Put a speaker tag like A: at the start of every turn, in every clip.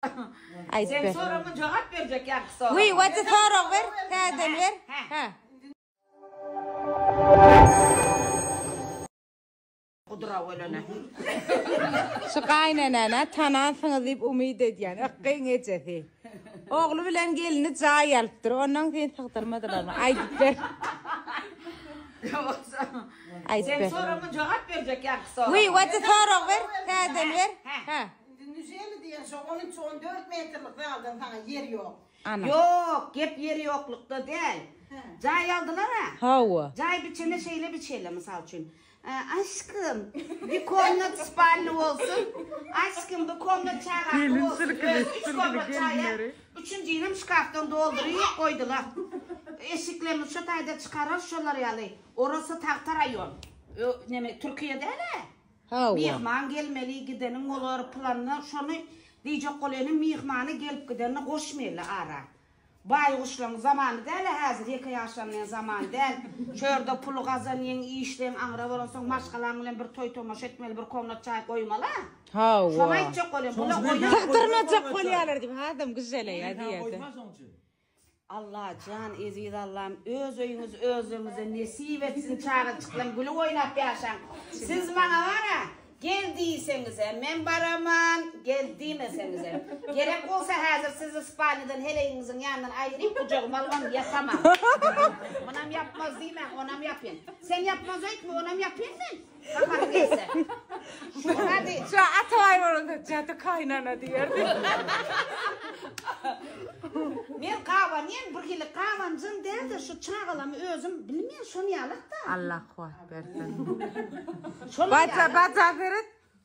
A: Sen soragyňa jogap berjek ýaňky sorag. Wiý, wati sorag ber, täzeden ber. Hä. Gudura welene. Şu gaýynenäni tanansyňyz diýip umyt edýän. Ykgyň ejesi. Ogly bilen gelini jaý alypdyr. Ondan sen sygdyrmadylarmy? Aýdyp ber. Sen soragyňa jogap berjek ýaňky sorag. Wiý, wati sorag ber, täzeden ber. Hä. Indi nüjeli diýen şo on üç, on dört metrlik zaldan saňa ýer ýok. Ana. Ýok, gep ýer ýoklukda däl. Hä. Jaý aldylar-a. Hawa. Jaý biçende şeýle biçeli, mysal üçin. Ä, Aşkym, bir komnat spalny bolsun. Aşkym, bir komnat çagaňky Gelin bolsun. sirkili, Özi üç sirkili komnat jaýa, gelinleri. üçünjinem şkafdan dolduryp goýdular. Eşiklerini şo taýda çykarar şolar ýaly. Orasy tagta raýon. Ö, neme, Türkiýe däl-ä. Myhman gelmeli gideniň bolar planda şony diýjek bol ene myhmany gelip gidenini goşmeli ara. Baýguşlaň zamany däla häzir ýeke ýaşanlaň zamany däl. Şu ýerde puly gazanýyň işleýiň aňra bolansoň maşgalaň bilen bir toý tomaşa etmeli bir komnat çaý goýmala. Şony aýtjak bol ene bula oýa. Sygdyrmajak bolýalar diýip adam gyjalaýa diýerdi. Allajan eziz Allam öz öýüňiz özüňize nesip etsin çagajyklam gülüp oýnap ýaşaň siz maňa bara gel diýseňizem men baraman gel diýmeseňizem gerek bolsa häzir sizi spalniýadan heleýiňiziň ýanyndan aýryp gujagyma alybam ýatamam munam ýapmaz diýmäň onam ýapyn sen ýapmaz öýtme onam ýapyn men. Hamar gelse. Hadi. Şu Atabaý bolanda jady kaynana diýerdi. Men gaban ýen bir hili gabanjym däldir şu çagalamy özüm bilmeýän şony ýalak da. Allah kuwat bersin. Baca baca beret.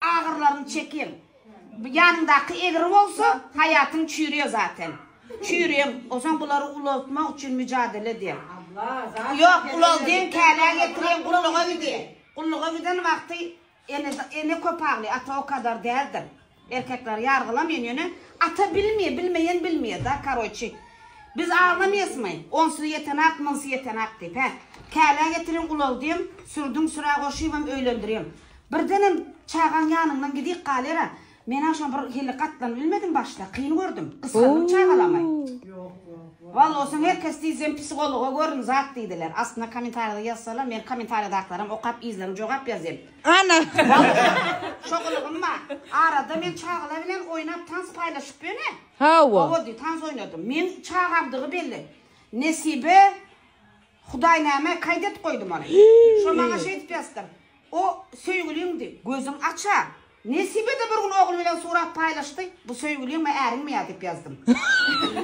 A: Agyrlaryny çekiň. Ýanyňdaky egri bolsa, haýatyň çüýrýär zaten. Çüýrüň, onsoň bulary ulaltmak üçin müjadele ediň. Ýok, ulaldyň, känä getiriň, gulluga gidiň. Gulluga giden wagty ene köp aglaýar, ata o kadar däldir. Erkekleri ýargylaman, ýöne ata bilmeýär, bilmeýän bilmeýär-de, karoçi. Biz aglamyýasmy? Onsuz ýetenak, munsuz ýetenak diýip, hä? Känä getiriň, ulaldyň, sürdüň, süre goşybam öýlendiriň. Birdenem çagaň ýanyndan gidik galera. Men-ä şoňa bir hili gatlanyp bilmedim başda. Kyn gördüm. Gysgandym çagalamy? Wall olsaň her kes diý sen psihologa görün zat diýdiler. Astyna kommentariýada ýazsalar men kommentariýadakylaram okap yzlaryň jogap ýazýan. Ana! Walla! Şo gylygym bar. Arada men çagalar bilen oýnap tans paýlaşyp ýöne. Hawa. Hawa diý tans oýnadym. Men çagamdygy belli. Nesibe. Hudaý näme kaýdet goýdy muny. Şo maňa şeýdip ýazdyr. O söýgüliňdi. Gözüň aç-a. Nesibede bir gün ogly bilen surat paýlaşdy. Bu söýgüliňmi, äriňmi ýa diýip ýazdym.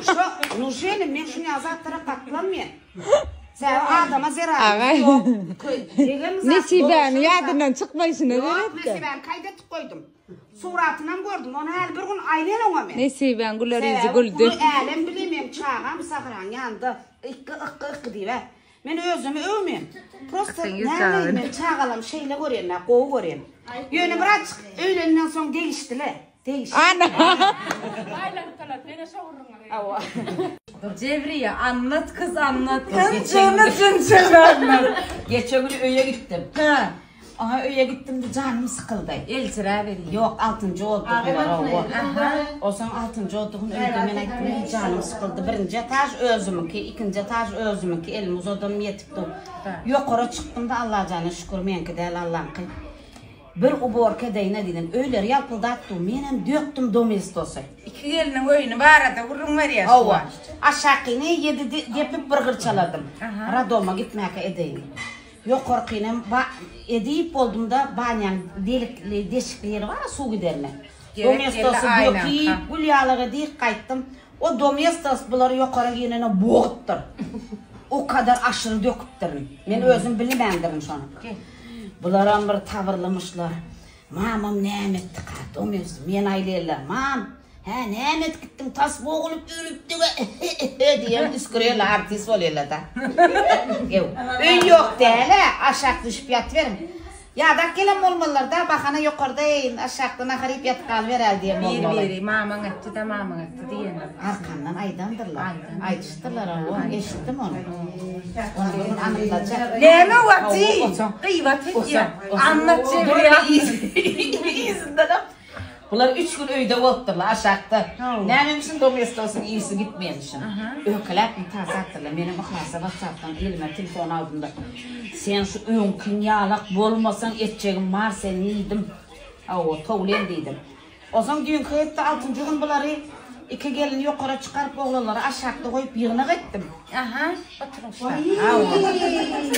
A: Şo nuje inim men şunýaly zatlara gatlanmaýan. Sebäbi adama zerary ýok. Degem zat. Nesibäniň ýadyndan çykmaýşyna seretdi. Ýok, nesibäni kaýdetip goýdum. Suratynam gördüm, ony häli bir gün aýlan oňa men. Nesibäň güler ýüzi güldi. Säwek uly älem bile meň çagam Sahyraň ýanynda ykky ykky ykky diýibä. Men özümi öwmen. Prosta nämeýin men çagalam şeýle görýänä, gowy görýän. Ýöne bir açyk öýleninden soň degişdile, degişdi. Ana! Aýlanyp galar, meňe şowurryňa gel. Hawa. Jewriýe, anlat, kyz anlat. Ynjyny jynjyny anlat. Geçen gün öýe gitdim. Hä. Oňa öýe gitdim-de janym sykyldy. Eljiräberi, Ýok, altynjy oddugylar-ow o. Aha, o soň altynjy oddugyny öýde men aýtdym, indi janym sykyldy. Birinji etaž özümiňki, ikinji etaž özümiňki, elimi uzadanym ýetip dur. Ýokara çykdym-da, Allajana şükür, meňki däl, Allaňky. Bir uborka edeýin edýän. Öýleri ýalpyldap dur. Menem dökdüm domestosy. Iki gelniň öýüni barada gürrüň berýär şu wagt. Hawa. Aşakyny ýedi depip bir gyrçaladym. Rodoma gitmäkä edeýin. Ýokarkyny ba edip boldumda banýaň delikli deşikli ýeri bara suw giderine domestosy dökip gül ýalyk edik gaýtdym o domestos bulary ýokara giynene bogudypdyr o kadar aşyry döküpdirin men özüm bilmändirin şony bularam bir tabyrlymyşlar mamam näme etdika domestos men aýlella mam Hä, näme edip gitdiň, tas bogulyp ölüpdiga ehe-ehe diýen üsgüreli artist bolýarlar-da. Ýow, öý ýok däl-ä, aşak düşüp ýatyberiň. Ýadak gelen bolmalylar-da, bahana ýokarda eýin, aşakda nahar iýip ýatyp galyberäli diýen bolmaly. Bir-biri, mamaň etdi-de, mamaň etdi diýendir. Arkandan aýdandyrlar. Aýdan. Aýdyşdyrlar, hawa, eşitdim ony. Ony bir gün anyklajak. Näme wagty? Gyýbat edýär. Anna çevirýär. Yzyndanam. Bular üç gün öýde bolupdyrlar, aşakda. Nämemişin domestosiň işi gitmeýänmişin. Öýkeläpmi ta sagdyrlar. Menem yhlasly watsapdan elime telefon aldym-da, Sen şu öňkiň ýalak bolmasaň, etjegim bar seniň diýdim. Hawa, towlen diýdim. Onsoň düýnki hepde altynjy gün bulary, iki gelini ýokara çykaryp, oglanlary aşakda goýup ýygnak etdim. Aha, oturyň şa. Hawa.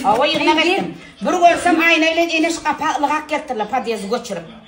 A: Hawa, ýygnak etdim. Bir görsem, Aýna bilen Eneş gapa ylgap gelipdirler, podýezdi göçürip.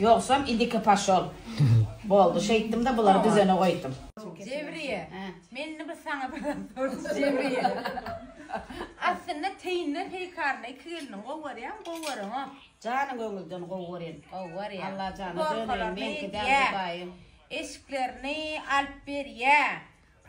A: Ýogsam idiki paşol boldy şeýtdimde bulary düzene goýdum. Jewriýe men indi bir saňa soraz sorajak Jewriýe aslynda teýinler heýkaryny iki geliniň gowy görýämi gowy görüňo. Jany göňülden gowy görýän. Gowy görýä. Alla jana döneýin meňki däl hudaýym. Eşiklerini alyp berýä.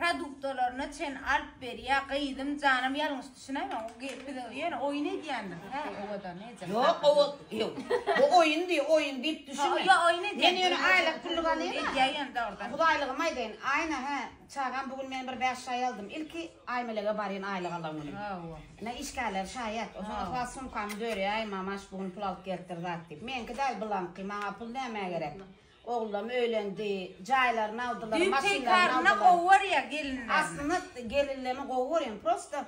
A: Produktalaryna çen alyp berýä gyzym janam ýalňyş düşünäýmäň o gelip bize ýöne oýun edýändir hä owadan nejak. Ýok owa ýok bu oýun diýip oýun diýip düşünme. Ýok oýun edýän. Men ýöne aýlyk pullyk alýan. Edýä ýöne dogrudan. Hudaýlygymy aýdaýyn Aýna hä çagam bu gün men bir bäş şaý aldym ilki Aýmelege barýan aýlyk alan güni. Hawa. Ine işgärler şaýat oşa yhlas sumkamy dörýäýmama şu gün pul alyp gelipdir zat diýip meňki däl bulaňky maňa pul nämä gerek Oglam öýlendi. Jaýlaryny aldylar, Düýp maşynlaryny Teýkaryny aldylar. gowy görýär gelinlerini. Aslynda gelinlerini gowy görýän. Prosta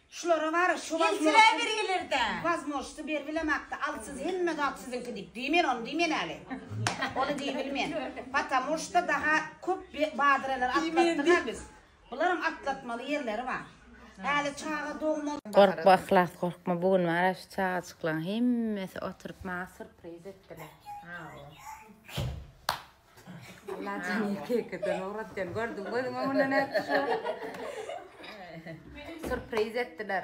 A: şulara bar-a şu Gelsinler wazmožsy, bir ýylrda. wazmožsy beribilemakdy. Al siz hemme zat siziňki diýip. Diýmen ony diýmen häli. Ony diýibilmen. Patamoşda daha köp be badyreler atlatdyga biz. Bularyň atlatmaly ýerleri bar. Häli çaga dogmaly. Gorkma Yhlas gorkma bu gün wara şu çagajyklaň hemmesi oturyp maňa surpriz etdiler. Allajan ýeke-ýekeden ugratýan gördüň gözüň öňüne nätdi şu. Surpriz etdiler.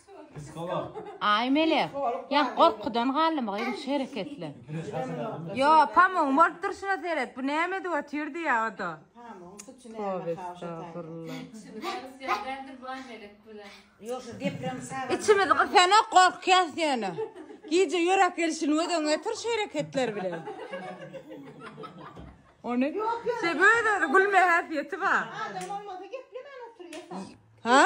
A: Aý mele, ýa gorkudan galdymy gyzym şu hereketler. Ýo, pamugyň bolup durşuna seret, bu näme edip otyrdy ýa o-da. Pamugyň suçy näme Tobe estagfurullah. Şuny garysy ýaly däldir baý Melek bilen. Ýok şu deprem sagat. Içimiz gysanok gorkýas ýöne. Gije ýörek gelşini göz öňüne getir şu hereketler bilen. Ony Şeýle öz-özi gülme häsiýeti bar. Adam bolmasa geplemän oturýa sen. Ha?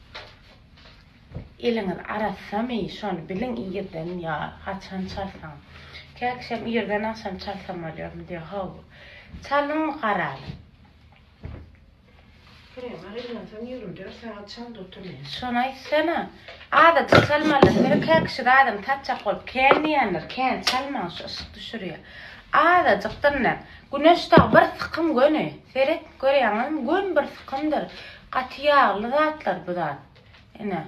A: Eliňiz arassamy, şony biliň irden ýa haçan çalsaň. Käkişem irden agşam çalsam bolýarmy diýýär. Haw. Çalyň garaly. Krema reňlensoň ýigrimi dört sagat çal dotyryn. Şony aýtsana. Azajyk çalmaly. Biri käkişi adam tatjak bolup kän diýendir. Kän çalmaň şu yşyk düşürýär. Azajykdyr ine. Güneş dag bir sykym göni. Seret görýäňizmi? Gön bir sykymdyr. Gaty ýagly zatlar bu zat. Ine,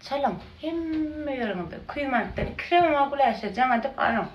A: çalyň. Hemme ýeriňize. Küýmänitden iki sewma güläşe jaň edip alyň.